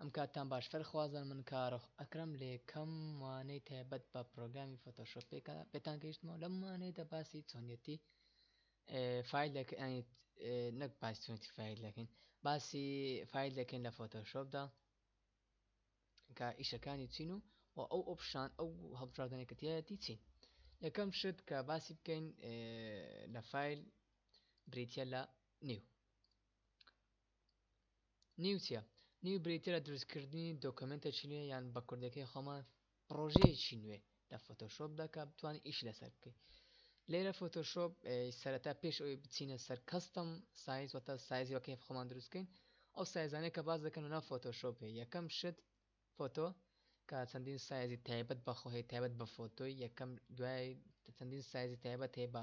ئەم کاتتان باش فەرخوازن من کارۆخ ئەکرم لە یەکەم وانەی تایبەت بە پرۆگرامی فۆتۆشۆپ پێکە پێتان گەیشتمەوە لەم وانەیەدا باسی چۆنیەتی فیل دەکەن ینی نەک باسی چۆنیەتی فیل دەکەین باسی فیل دەکەین لە فۆتۆشۆپدا کە ئیشەکانی چین و و ئەو ئۆپشان ئەو هەڵبژاردنە کە تایەتی چین یەکەم شت کە باسی بکەین لە فیل بریتە لە نیو نیوچە نیو بریتە لە دروستکردنی دۆکمنتە چینە یان بە کوردەکەی خۆمان پڕۆژەیەکی نوێ لە فۆتۆشۆپ دا کە بتوانین ئیش لەسەر بکەین لێرە فۆتۆشۆپ سەرەتا پێش ئەوی بچینە سەر کەستم سایز وەتە سایزی وەکەی خۆمان دروستکەین ئەو سایزانەیە کە باز دەکەن ونا فۆتۆشۆپێ یەکەم شت فۆتۆ کە چەندین سایزی تایبەت بەخۆهەیە تایبەت بە فۆتۆی یەکەم دوای چەندین سایزی تایبەت هەیە بە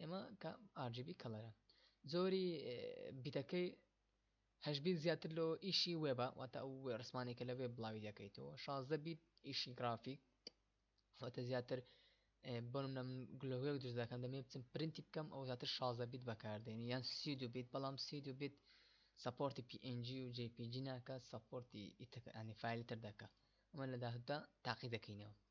ئێمە کە RGB کەڵەرە زۆری بیتەکەی هەشبیت زیاتر لۆ ئیشی وێبە واتە ئەو ڕسمانێکە لە وێب بڵاوی دەکەیتەوە شازدە بیت ئیشی گرافیک واتە زیاتر بۆنم نەم گلۆێک دروست دەکەن دەمێ بچم پرینتی بکەم ئەو زیاتر شازدە بیت بەکاردێنی یان سی دو بیت بەڵام سی دو بیت سپۆرتی PNG و JPG ناکە سپۆرتی ئیتەکانی فیلی تر دەکە ئەمە لە داهدا تاقی دەکەینەوە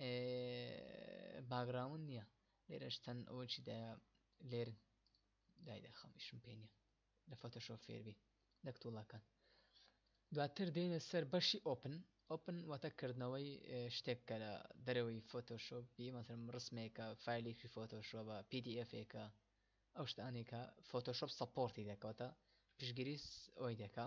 ئێ باگراوند نیە لێرەش چەند ئەوەکی دایە لێر دای دەخەم ئیشم پێ نیە لە فۆتۆشۆپ فێربی لەک توڵەکان دواتر دێنە سەر بەشی ئۆپن ئۆپن واتە کردنەوەی شتێک کە لە دەرەوەی فۆتۆشۆپ بی مەسرم ڕسمێکە فیلێکی فۆتۆشۆبە PDFێکە ئەو شتانێکە فۆتۆشۆپ سەپۆرتی دەکەوتە پشگیری ئەوی دەکە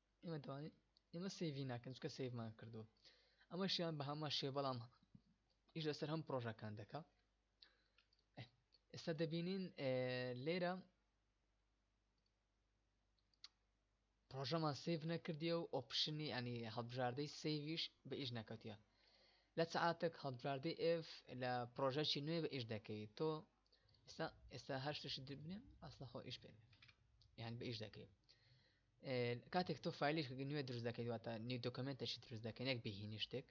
ئێمە دەوانین ئێمە سەیڤی ناکەن چکە سەیڤمان کردووە ئەمەشیان بە هەمان شێ بەڵام ئیش لەسەر هەم پرۆژەکان دەکا ئێستا دەبینین لێرە پرۆژەمان سیف نەکردیە و ئۆپشنی ئەنی هەڵبژاردەی سیویش بە ئیش نەکەوتە لە سعاتێک هەڵبژاردەی ئف لە پرۆژەکی نوێ بە ئیش دەکەیت تۆ ئێستا ئێستا هەر شتشی دبنێ ئەسڵخۆ ئیش پێ یان بە ئیش دەکەیت کاتێک تۆ فیلش نوێ دروست دەکەیت واتە نیو دۆکمنتەشی دروست دەکەن یەک بهینی شتێک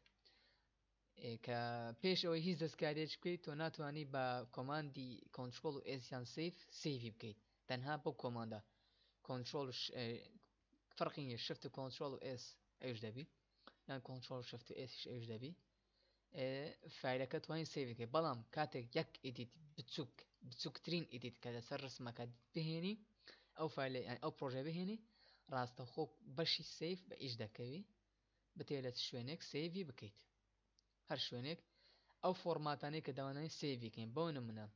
کە پێش ئەوەی هیچ دەستکارێک بکەیت تۆ ناتوانانی بە کۆماندی کۆنتترۆل و ئێسیان سیف سیوی بکەیت تەنها بۆ کۆماندە کۆنتترۆل فەرقی نیە شفت و کۆنتترۆل و ئێس ئەوش دەبی یان کۆنتترۆل شفت و ئێسیش ئەوش دەبی فایلەکە توانین سێوی کرد بەڵام کاتێک یەک ئیدیت بچووک بچووکترین ئیدیت کە لەسەر ڕسمەکە بهێنی ئەو فایل ئەو پرۆژە بهێنی ڕاستەخۆ بەشی سیف بە ئیش دەکەوی بتێ لە شوێنێک سێوی بکەیت هەر شوێنێک ئەو فۆرماتانەی کە داوانانی سێویکەین بۆ نمونە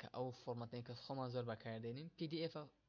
کە ئەو فۆرمەتەکە خۆمان زۆر بەکاردێنین پدF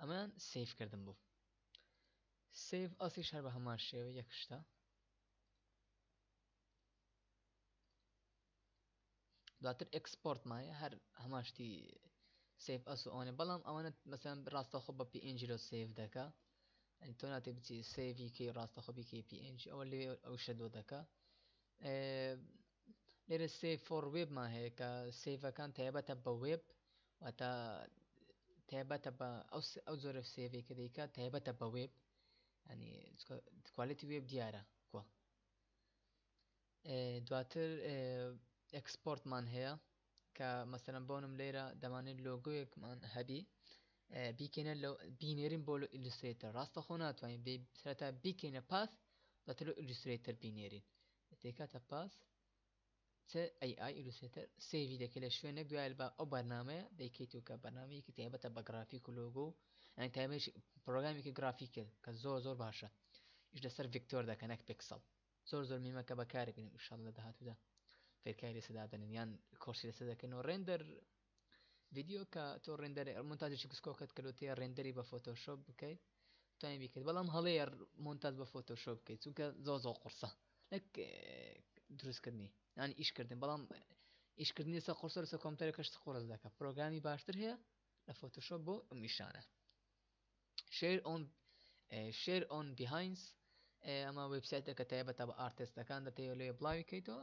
ئەمەیان سەیڤ کردم بۆ سەیڤ ئەسیش هەر بە هەمان شێوە یەک شتە دواتر ئەکسپۆرت مایە هەر هەماشتی سیف ئەس و ئەوانێ بەڵام ئەوانە مەسەن ڕاستەخۆ بە PNG لۆ سیف دەکە ئەنی تۆ ناتێ بچی سیڤی کەی ڕاستەخۆبی کەی PNG ئەوە لێ ئەو شەدۆ دەکە لێرە سێڤ فۆر وێبمان هەیە کە سێڤەکان تایبەتە بە وێب واتە تایبەتە بە ئەو جۆرە سێڤێک کە دەیکە تایبەتە بە وێب ینی کوالێتی وێب دیارە کوە دواتر ئەکسپۆرتمان هەیە کە مەسەرم بۆنم لێرە دەمانێت لۆگویەکمان هەبی بیکەینە لە بینێرین بۆ لە ئیلوسترێتەر ڕاستەخۆ ناتوانین سەرتا بیکەینە پاس دەتر ئیلوسترێتەر بینێرین دەیکاتە پاس چ AI Illustrator سێڤی دەکەی لە شوێنێک دوای با ئەو بەرنمەیە دەیکەیت و کە بەنامەیەکی تایبەتە بە گرافیک و لۆگۆ و ئەنی تایبەت پرۆگرامیکی گرافیک کرد کە زۆر زۆر باشە ئیش لەسەر ڤکتۆر دەکە نەک پێکسەڵ زۆر زۆر میمەکە بەکاربین شڵ لە داهاتوودا فێرکاری لەسەدادەنن یان کۆشی لەسەر دەکەن و ڕێندەر ڤیدیۆ کە تۆ ڕێندەر مونتاجێکی کسکۆکەت کردو تێ ڕێندەری بە فۆتۆشۆپ بکەیت توانین بیکرد بەڵام هەڵەیە مونتاج بە فۆتۆشۆپ بکەیت چونکە زۆ زۆ قڕسە نەک دروستکردنی یانی ئیشکردن بەڵام ئیشکردنی سە قرسەر سە کۆمپتەر کەشت قرس دەکە پرۆگرامی باشتر هەیە لە فۆتۆشۆپ بۆ میشانە شێر ئۆن شێر ئۆن بیهاینس ئەمە وبسایتەکە تایبەتە بە ئارتستەکان دەتەوێت لێ بڵاوی کەیتەوە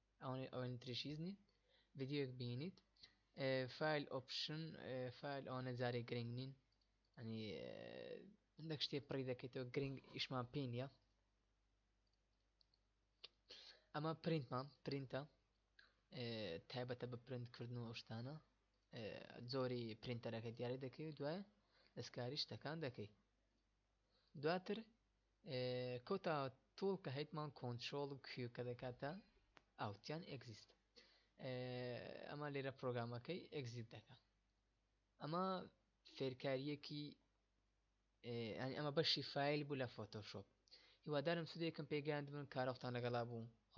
ئەوانەی ئەوەنە تریشیز نین ڤیدیۆیەک بینیت فایل ئۆپشن فایل ئەوانە جارێک گرنگ نین ئەنی هەندێک شتێ پڕی دەکەیتەوە گرنگ ئیشمان پێ نیە ئەمە پرینتمان پرینتە تایبەتە بە پرنت کردن و شتانە زۆری پرینتەرەکە دیارە دەکەی و دوای دەستکاری شتەکان دەکەی دواتر کۆتا تۆڵ کە هەیتمان کۆنتترۆل و کوێ کە دەکاتە ئاوتیان ئەگزیست ئەمە لێرە پرۆگرامەکەی ئەگزیت دەکە ئەمە فێرکاریەکی ئەنی ئەمە بەشی فیل بوو لە فۆتۆشۆپ هیوادارم سودێکم پێگەیاندبن کارۆختان لەگەڵا بوو خوا